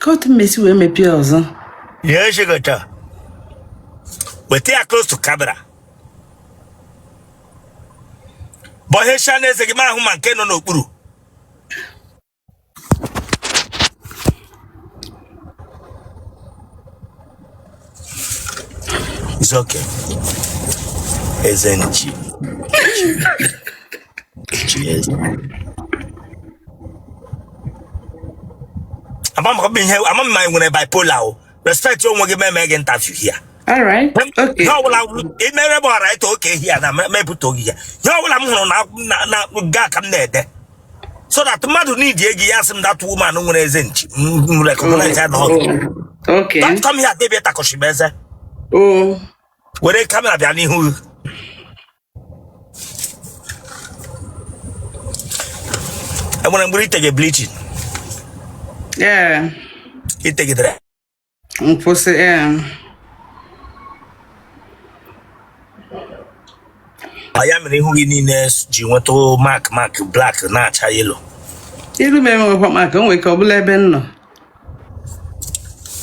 ka otu m mesi wee mepee ọzọ Ihe shigota. Weta ya close to camera. Bọhesha n'eze gị m ahụ ma nke nọ n'okpuru. It's okay. Eze nchi. Nchi eze. Ama m ọ bụ ihe ama m ma ị nwere bipolar o. Respect onwe gị m mee gị interview here. All right. Okay. Ihe ọbụla i mere bụ ọra eto oke ihe a na mepụta oge ya. Ihe ọbụla m hụrụ na na na gị ka m na-ede. so that mmadụ need gị ya asị m that woman nwere eze nchi m recognize ya na ọ gị Okay. don't come here debie takọshima eze Oh. were camera bịa n'ihu gị. e nwere mgbe i tege bleaching Yeah. i tegidere kwụsị ee Ọ ya mere ihu gị niile ji nweta mark mark black na-acha yellow iru m enwekwa mark o nwere ike ọ bụrụ ebe m nọ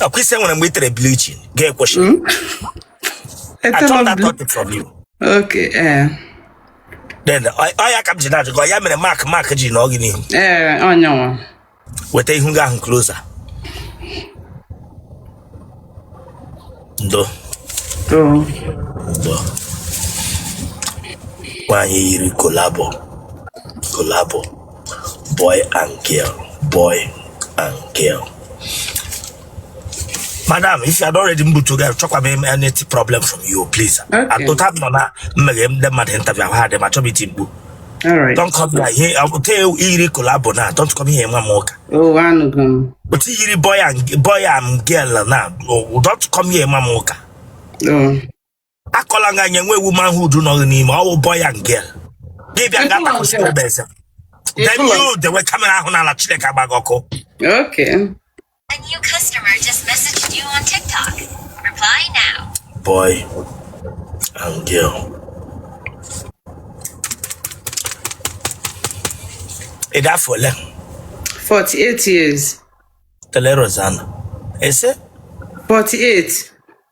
ọ kwa ị sị e nwere mgbe i tere bleaching gị akwụsị I Etela thought m that bl- got it from you. okay ee Then, ọ ọ ya ka m ji na-ajụ gị, ọ ya mere mark mark ji nọ gị n'ihu ee ọ ya nwa weta ihu gị ahụ closer ndo ndo nwaanyị yiri collabo collabo boy and girl boy and girl madam if you are not ready mbu to get achọkwa m any problem from you please atụta m nọ na mmeghe ndị mmadụ interview ahụ adị ma chọbiti mgbu don't come here ihe ọ bụ taa i yiri collabo na don't come here nwa m ụka but i yiri boy and boy and girl na don't come here nwa m ụka akọla nga nye nwe womanhood nọghị n'ime ọ wụ boy and girl gị bịa ga takwụsị ebe eze then you dewe camera ahụ n'ala Chineke agba gị ọkụ Okay. A new customer just messaged you on TikTok. Reply now. boy and girl ị dị afọ ole 48 years. tele rozana ese 48.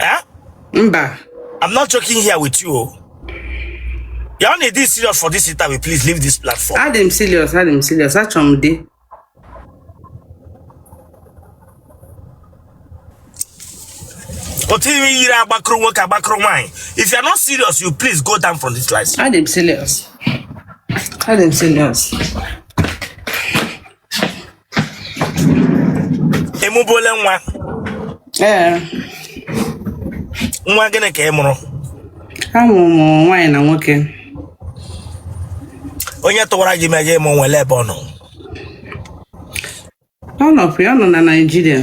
Eh? Mba. I'm not joking here with you. oh. You only this serious for this interview. Please leave this platform. Adị m serious, adị m serious. Achọ m di. Otu i me yiri agbakwuru nwoke agbakwuru nwaanyị. If you are not serious, you please go down from this live. Adị m serious. Adị m serious. ị mụbuole nwa ee nwa gịnị ka ị mụrụ amụrụ m nwaanyị na nwoke onye tụwara gị ime ị ji mụ nwa ele ebe ọ nọ ọ nọpụ ya ọ nọ na naijiria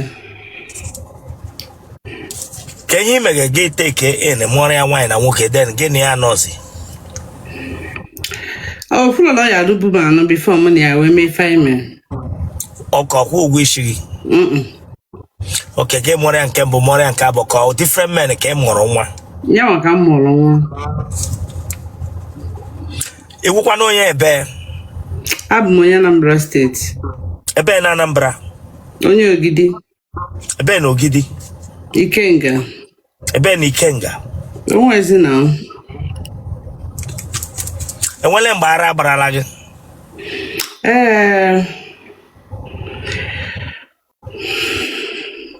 ka ihe imege gị take in mụọrọ ya nwaanyị na nwoke then gị na ya nọzi ọ fụrụ na ọ ya alụbu m anụ before m na ya wee mee ife anyị mere okay ọ kwụ ụgwọ isi gị Mm-mm. okay gị mụọrọ ya nke mbụ mụọrọ ya nke abụọ ka ọ different men ka ị mụrụ nwa ya nwa ka m mụrụ nwa ị wụkwanụ onye ebe abụ m onye Anambra steeti ebe na Anambra onye ogidi ebe na ogidi ikenga ebe na ikenga onwezi na enwere mgbe ara gbarala gị ee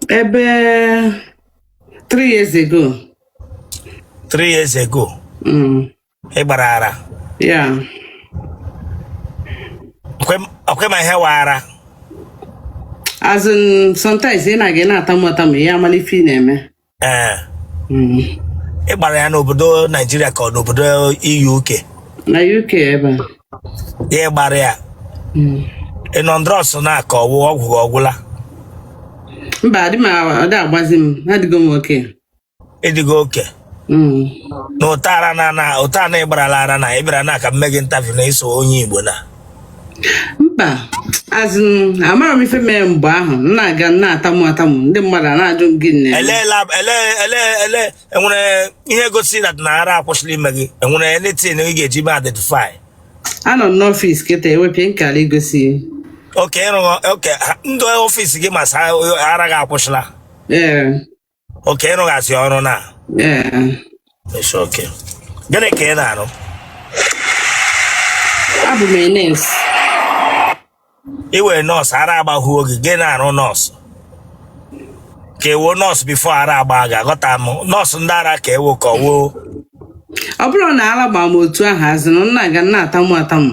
ebe three years ago three years ago mm. ị gbara ara Yeah. Ọ kwa- ọ kwa ị ma ihe wụ ara As in, sometimes ị na-aga ị na-atamu atamu ya amala ife ị na-eme. ee Mm. ị gbara ya n'obodo naijiria ka ọ n'obodo UK Na UK ebe a. ya ị gbara ya Mm. ị nọ na drugs now ka ọ wụ ọgwụ gị ọ gwụla Mba, adị m a- ọ dị agbazi m. Adịgo m okay. ị dịgo okay Mm. nụtara na nụta na ị gbarala ara na ị bịara na ka m mee gị interview na ịsụ onye igbo na mba as in amara m ife mere mgbe ahụ m na-aga m na-atamu atamu ndị mmadụ ana-ajụ m gịnị eleela ele ele ele enwere ihe gosi that na ara akwụsịla ime gị enwere anything ị ga-eji mee identify anọ m n'ọfịs kịta ewepịa nkara igosi ya. okay ị rụghọ okay ha- ndị ọfịs gị ma sị ara gị akwụsịla ee okay ị rụghazi ọrụ now Ee, It's okay. gịnị ka ị na-arụ abụ m nurse ị wụ nurse ara agbahuo gị gị na-arụ nurse ka ị wụ nurse before ara agba gị aghọta m nurse ndị ara ka ị wụ ka ọ wụ ọ bụrọ na ala gbara m otu ahụ as in m na-aga na-atamu atamu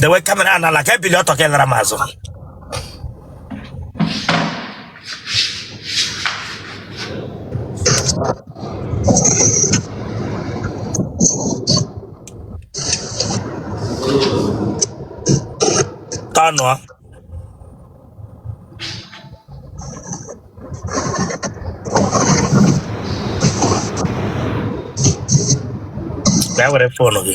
dewe camera a n'ala ka i bili ọtọ ka ị laara m azụ tọnụọ bịa were phone gị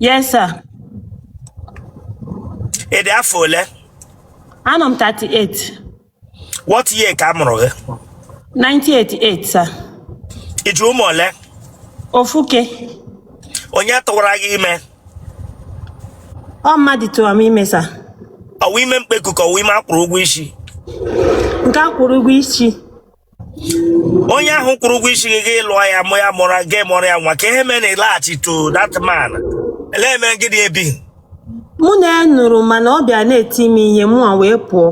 Yes, sir. ị dị afọ ole Anọ m 38. what year ka a mụrụ gị 1988, sir. ị ji ụmụ ole Ofuke. onye tụwara gị ime Ọ mmadụ tụrụ m ime, sir. ọ wụ ime mkpeku ka ọ wụ ime a kwụrụ ụgwọ isi Nke a kwụrụ ụgwọ isi. onye ahụ kwụrụ ụgwọ isi gị gị lụọ ya mụ ya mụrụ gị mụrụ ya nwa ka ihe mere na ị laghachi to that man ele mere gị dị ebi mụ na ya nụrụ mana ọ bịa na-eti m ihe mụ a wee pụọ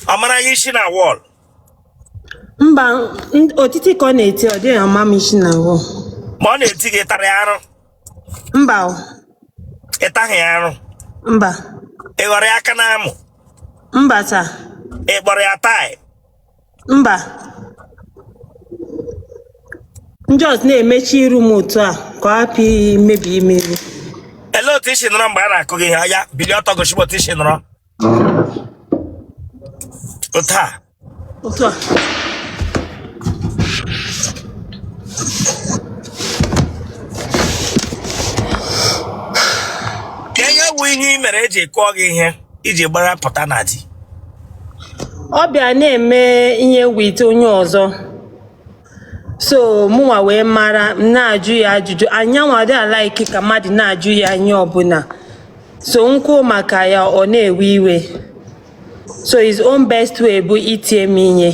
ọ mara gị isi na wall mba n- otiti ka ọ na-eti ọ dịghị ama m isi na wall ma ọ na-eti gị ị tara ya arụ mba o, ị taghị ya arụ mba ị ghọrọ ya aka n'amụ mba sir ị kpọrọ ya taị mba m just na-emechi iru m otu a ka ọ hapụ imebi m iru Ele otu i si nọrọ mgbe a na-akụ gị ihe oya bilie ọtọ gosi m otu i si nọrọ Otu a. Otu a. Ka ihe bụ ihe ị mere e ji kụọ gị ihe i ji gbara pụta na di. Ọ bịa na-eme ihe with onye ọzọ. so mụnwa wee mara na-ajụ ya ajụjụ and yanwa adịghị a-like ka mmadụ na-ajụ ya ihe ọbụla so m kwuo maka ya ọ na-ewe iwe so his own best way bụ itie m ihe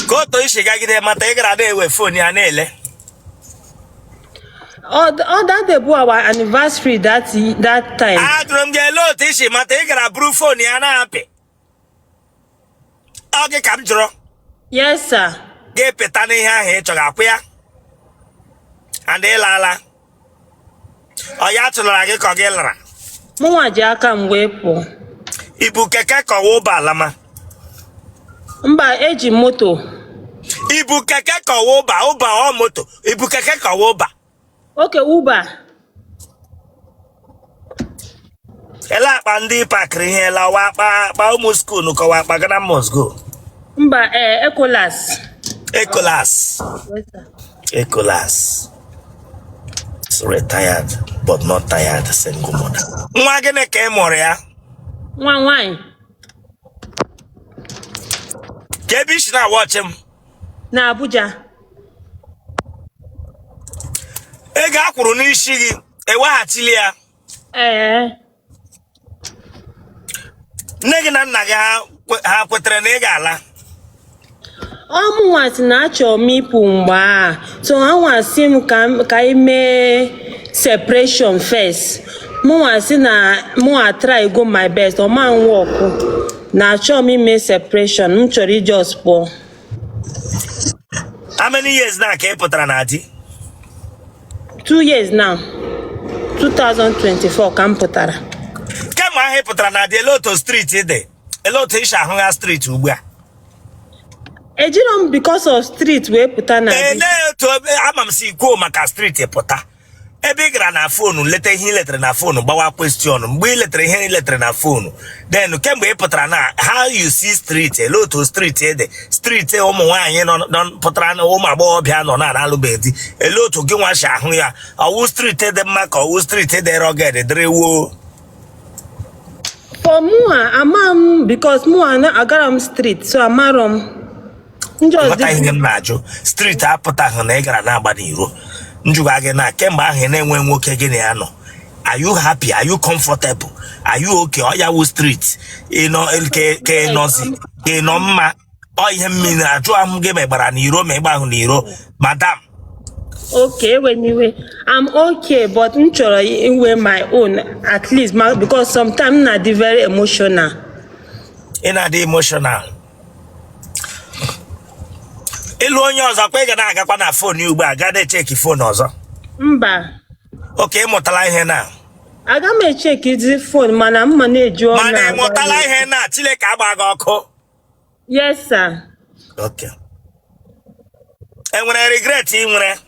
ka otu i si gagide mata ị gara na-ewe phone ya na-ele Oh, th- oh, that day bụ our anniversary that that time. Ajụrụ m gị ele otu i si mata ị gara buru phone ya na-apị. Ọ gị ka m jụrụ. Yes, sir. Gị apịtanụ ihe ahụ ị chọrọ akwụ ya. And ị laala. Ọ ya chụlara gị ka ọ gị lara. Mụnwa ji aka m wee pụọ. I bu keke ka ọ wụ Uber lama. mba eji m moto i bu keke ka ọ wụ Uber Uber ọ moto i bu keke ka ọ wụ Uber okay Uber ele akpa ndị ị pakịrị ihe lawa akpa akpa ụmụ skuulu ka ọ wụ akpa Ghana must go mba ee ekolas ekolas ekolas retired but not tired single mother nwa gịnị ka ị mụrụ ya nwa nwanyị kee ebe i si na-awatch m na Abuja ego a kwụrụ n'isi gị eweghachili ya ee nne gị na nna gị ha kwe- ha kwetara na ị ga-ala ọ mụnwa sị na achọrọ m ịpụ mgbe a so ha nwa sị m ka m- ka anyị mee separation first mụnwa sị na mụnwa atrygo my best ọ ma-awọkụ na achọrọ m ime separation m chọrọ ị just pụọ how many years now ka ị pụtara na di two years now 2024 ka m pụtara kemgbe ahụ ị pụtara na di ele otu street dị ele otu i si ahụ ya street ugbu a ejirọ m because of street wee pụta na di ele otu ebe ama m si kwuo maka street pụta ebe ị gara na phone leta ihe ị letara na phone gbawa question mgbe ị letara ihe ị letara na phone then kemgbe ị pụtara now how you see street ele otu street dị street ụmụ nwaanyị nọ nọ- pụtara na ụmụ agbọghọbịa nọ na alụbeghị di ele otu gịnwa si ahụ ya ọ wụ street dị mma ka ọ wụ street dị rugged dịrị woo for mụa ama m because mụa agara m street so amarọ m ndị ọzọ ghọta ihe m na-ajụ street apụtaghị na ị gara na-agba n'iro m jụga gị na kemgbe ahụ ị na-enwe nwoke gị na ya nọ are you happy are you comfortable are you okay ọ ya wụ street ị nọ ke ị nọzi ị nọ mma ọ ihe m jiri na-ajụ ahụ gị ma ị gbara n'iro ma ị gbahụ n'iro madam okay anyway i'm okay but m chọrọ inwe my own at least ma because sometimes m na-adị very emotional ị na-adị emotional ị lụọ onye ọzọ kwa ị ga na-agakwa na phone ya ugbu a gaa na-echeki phone ọzọ mba okay ị mụtala ihe na aga m echekizi phone mana m ma na-eji ọnụ mana ị mụtala ihe na Chineke agba gị ọkụ Yes, sir. Okay. Enwere regret ị nwere?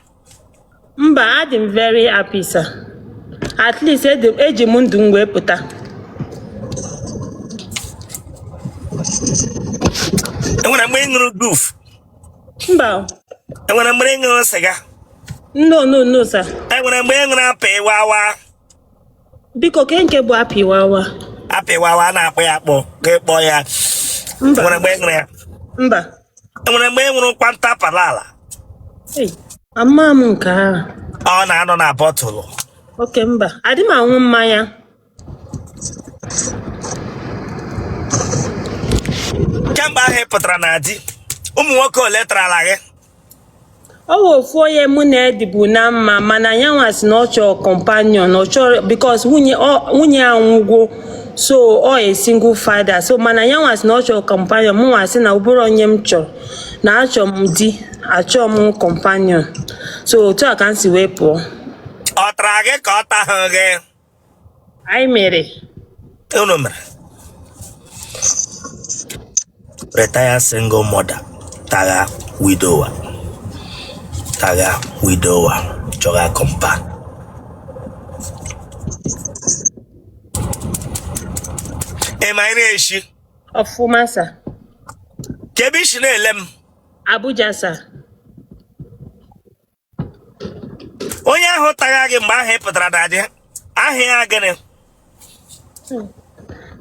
Mba, adị m very happy, sir. At least eji m ndụ m wee pụta. Enwere mgbe ị ṅụrụ goof? Mba. Enwere mgbe ị ṅụrụ sịga? No, no, no, sir. Enwere mgbe ị ṅụrụ apịwawa? biko kee nke bụ apịwawa apịwawa a na-akpọ ya akpọ ka ịkpọ ya mba nwere mgbe ị ṅụrụ ya mba nwere mgbe ị ṅụrụ kwanta palala Ei, ama m nke ahụ ọ na-anọ na bottle okay mba adị m aṅụ mmanya kemgbe ahụ ị pụtara na di ụmụ nwoke ole tarala gị ọ wụ ofu onye mụ na ya dịbu na mma mana ya nwa sị na ọ chọrọ companion ọ chọrọ because nwunye ọ- nwunye ya nwụgo so ọ a single father so mana ya nwa sị na ọ chọrọ companion mụ nwa sị na ọ bụrọ onye m chọrọ na achọ m di achọ m companion so otu a ka m si wee pụọ ọ tara gị ka ọ taghị gị anyị mere unu mere retired single mother tagha widower tagha widower chọga companion ị ma ị na-eshi ọfụma sir kee ebe i si na-ele m abuja sir onye ahụ tagha gị mgbe ahụ ị pụtara na di aha ya gịnị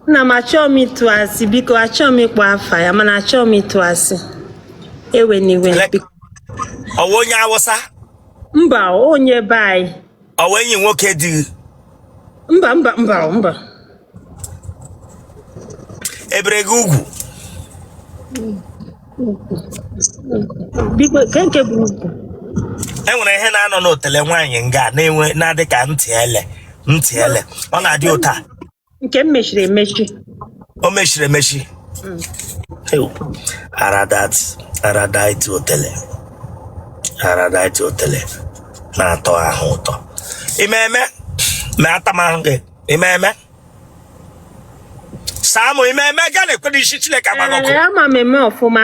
nna m achọọ m ịtụ asị biko achọọ m ịkpọ afa ya mana achọọ m ịtụ asị ewena iwe ọ wụ onye awụsa mba onye be anyị ọ wụ enyi nwoke di gị mba mba mba mba e bere gị ugwu biko nke nke bụ ugwu e nwere ihe na-anọ n'otele nwaanyị nga na-enwe na-adị ka ntị ele ntị ele ọ na-adị ụta nke m mechiri emechi o mechiri emechi Ew. araldite araldite otele araldite otele na-atọ ahụ ụtọ ị ma eme ma atama gị ị ma eme saa mụ ị ma eme gaa na-ekwe n'isi chineke agba gị ọkụ Ee, ama m eme ọfụma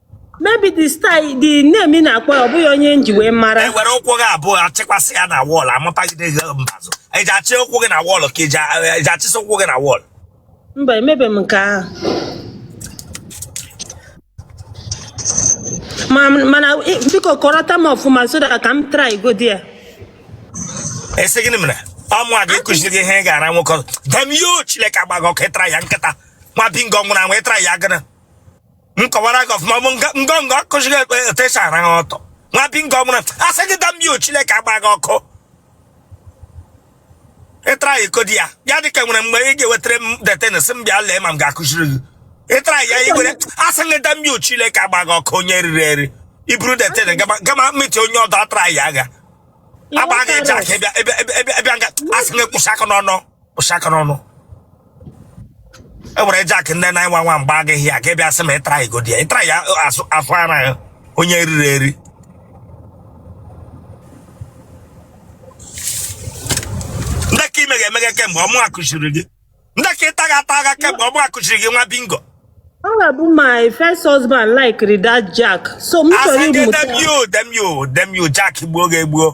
maybe the style the name ị na-akpọ ya ọ bụghị onye m ji wee mara e were ụkwụ gị abụọ achịkwasị ya na wall amapagide gị mbazụ eji achị ụkwụ gị na wall ka eji a- eji achịsị ụkwụ gị na wall mba emebe m nke ahụ Ma- mana ị- biko kọrọta m ọfụma so that ka m try go there ị sị gịnị mere ọ mụwa ga-ekụziri gị ihe ị ga-ara nwoke ọzọ damn you chileke agba gị ọkụ ị tara ya nkịta nwa bingo nwụrụ anwụ ị tara ya gịnị m kọwaara gị ọfụma bụ ngọngọ akụziri gị ekpe etu e si ara ha ọtụ nwa bingo mụrụ asị gị damn you chineke agba gị ọkụ ị tara ya ikodi ya ya dị ka nwere mgbe ị ga-ewetara m that thing sị m bịa lee ma m ga-akụziri gị ị tara ya ngwere asị gị damn you chineke agba gị ọkụ onye riri eri i buru that thing gama gama meti onye ọdọ atara ya agha agba gị jack ịbịa ịbịa ịbịa ịbịa nga asị gị kwụsị aka n'ọnụ kpụcha aka n'ọnụ ewere Jack ndị 911 agba gị ya ka ịbịa sị ma ịtara igodi ya ịtara ya asụ afọ ara ya onye riri eri ndị ka ime ga-emeghe kemgbe ọmụ akụchiri gị ndị ka ịta ga ata agha kemgbe ọmụ akụchiri gị nwa bingo Ọ ga-abụ my first husband like that Jack. So m chọrọ asị gị ịmụta. dem you dem you dem you Jack gbuo gị egbu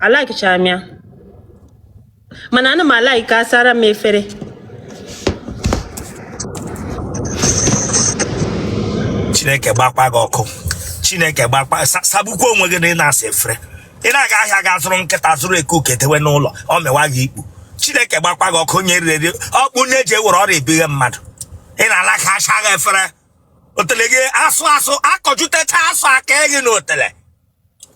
alikechara m ya mana ana m alike asara m efere chineke gbakwa gị ọkụ chineke gbakwa sagbukwa onwe gị na ị na-asa efere ị na-aga ahịa ga zụrụ nkịta zụrụ eke oke dewe n'ụlọ ọ mewa gị ikpu chineke gbakwa gị ọkụ onye riri ọkpụ onye ji ewere ọrịa ebighe mmadụ ị na-alike asa gị efere otele gị asụ asụ akọjutecha asụ aka gị n'otele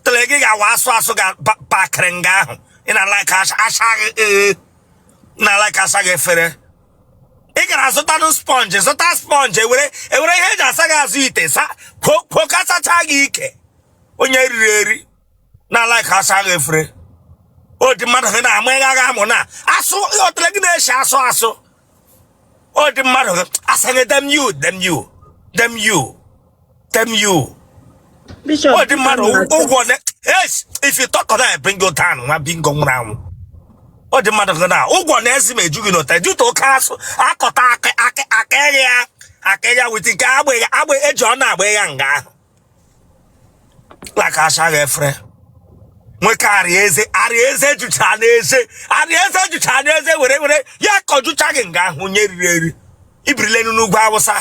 tele gị ga-awa asụ asụ ga pakịrị nga ahụ ị na-alike asa gị ee na-alike asa gị efere ị gara zụtanụ sponge zụta sponge ewere ewere ihe eji asa gị azụ ite sa kwuo ka sacha gị ike onye riri eri na-alike asa gị efere ọ dị mmadụ gị na-ama ịgha agha amụ na asụ otele gị na-eshi asụ asụ ọ dị mmadụ ga-asanye dem you dem you dem you dem you Bishop, ọ dị mmadụ ụgwọ ne yes if you talk na bring you down nwa bingo nwụrụ anwụ ọ dị mmadụ gị na ụgwọ na ezi ma ejughị n'ụta juta oke asụ akọta aka aka aka ya aka ya with nke agba ya agba eji ọ na-agba ya nga ahụ like asa gị efere nwoke arieze arieze jucha n'eze arieze jucha n'eze were were ya kọjucha gị nga ahụ onye riri eri i birilenu n'ugwu Awụsa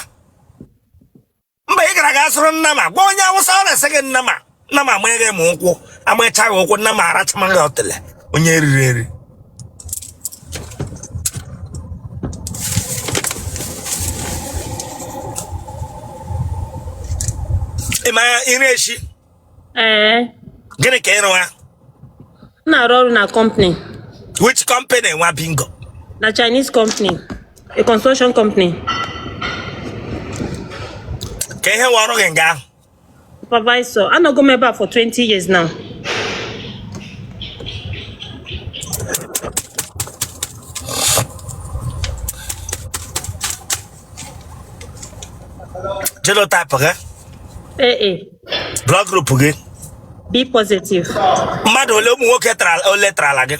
mgbe ị gara ga zụrụ nnama gwa onye Awụsa o resi gị nnama nnama amaghị m ụkwụ amacha gị ụkwụ nnama arachama gị otele onye riri eri ị ma iri eshi ee gịnị ka ị rụgha m na-arụ ọrụ na company which company nwa bingo na Chinese company a construction company kee ihe wụ ọrụ gị nga ahụ Supervisor, anọgo m ebe a for 20 years now. Genotype gị? AA. Blood group gị? B positive. Mmadụ ole ụmụ nwoke tara ole tara gị?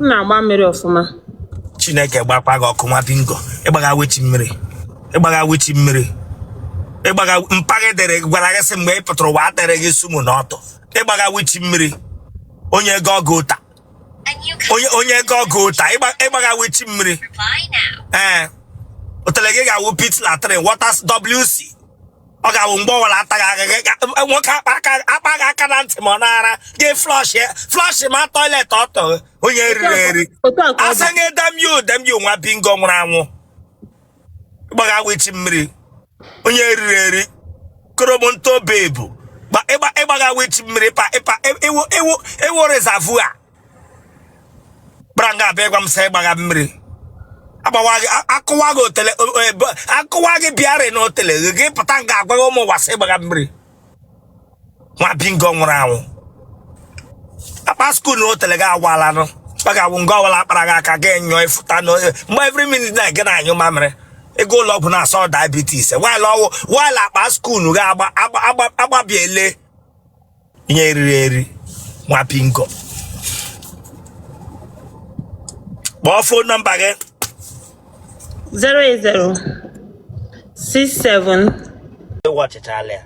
m na-agba mmiri ọfụma chineke gbakwa gị ọkụ nwa bingo ị gbaga which mmiri ị gbaga which mmiri ị gbaga mpa gị dere gị gwara gị sị mgbe ị pụtara ụwa adịrị gị sumo n'ọtụ ị gbaga which mmiri onye ego ọgụ ụta onye onye ego ọgụ ụta ị gba- ị gbaga which mmiri ee otele gị ga-awụ pit latrine waters wc ọ ga-awụ mgbe ọwụla ataghị agaghị nwoke akpa gị aka na ntị ma ọ na-ara gị flush flush ma toilet ọtụ onye eriri eri I say damn you damn you nwa bingo nwụrụ anwụ ị gbaga which mmiri onye eriri eri koromonto bebu ị gbaga which mmiri ịpa ịpa ị wụ ị wụ ị wụ reservoir gbara nga a bịa ịgwa m sị ị gbaga mmiri agbawa gị a- akụwa gị otele o- o- ebe- akụwa gị bịarị na otele gị gị pụta nga a gwaga ụmụ ụwa sị ị gbaga mmiri nwa bingo nwụrụ anwụ akpa skuul na otele gị agwalanụ ọ ga-awụ nga ọwụla a kpara gị aka gị nyụọ ị fụta na onye- mgbe every minute na gị na-anyụ mamịrị ị gaa ụlọ ọgwụ na-asị ọ diabetes while ọ wụ while akpa skuul gị agba- agba- agba- agbabiele ihe eriri eri nwa bingo kpọọ fon nọmba gị 08067 ị watchịchaala ya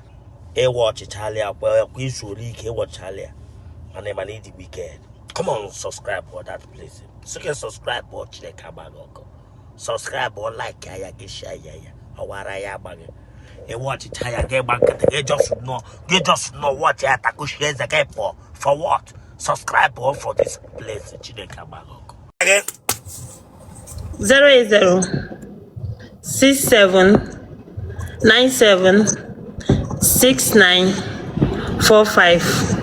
ị watchịchaala ya kwa kwa i zuole ike ị watchịchaala ya mana ị mana ị dị wicked come on subscribe for that place sị gị subscribe o chineke agba gị ọkụ subscribe o like ya gị share ya ya ọwara ya agba gị ị watchịchaa ya gị gba nkịtị gị just nọ gị just nọ watch ya takushie eze gị pụọ for what subscribe o for this place chineke agba gị ọkụ 080 67 97 69 45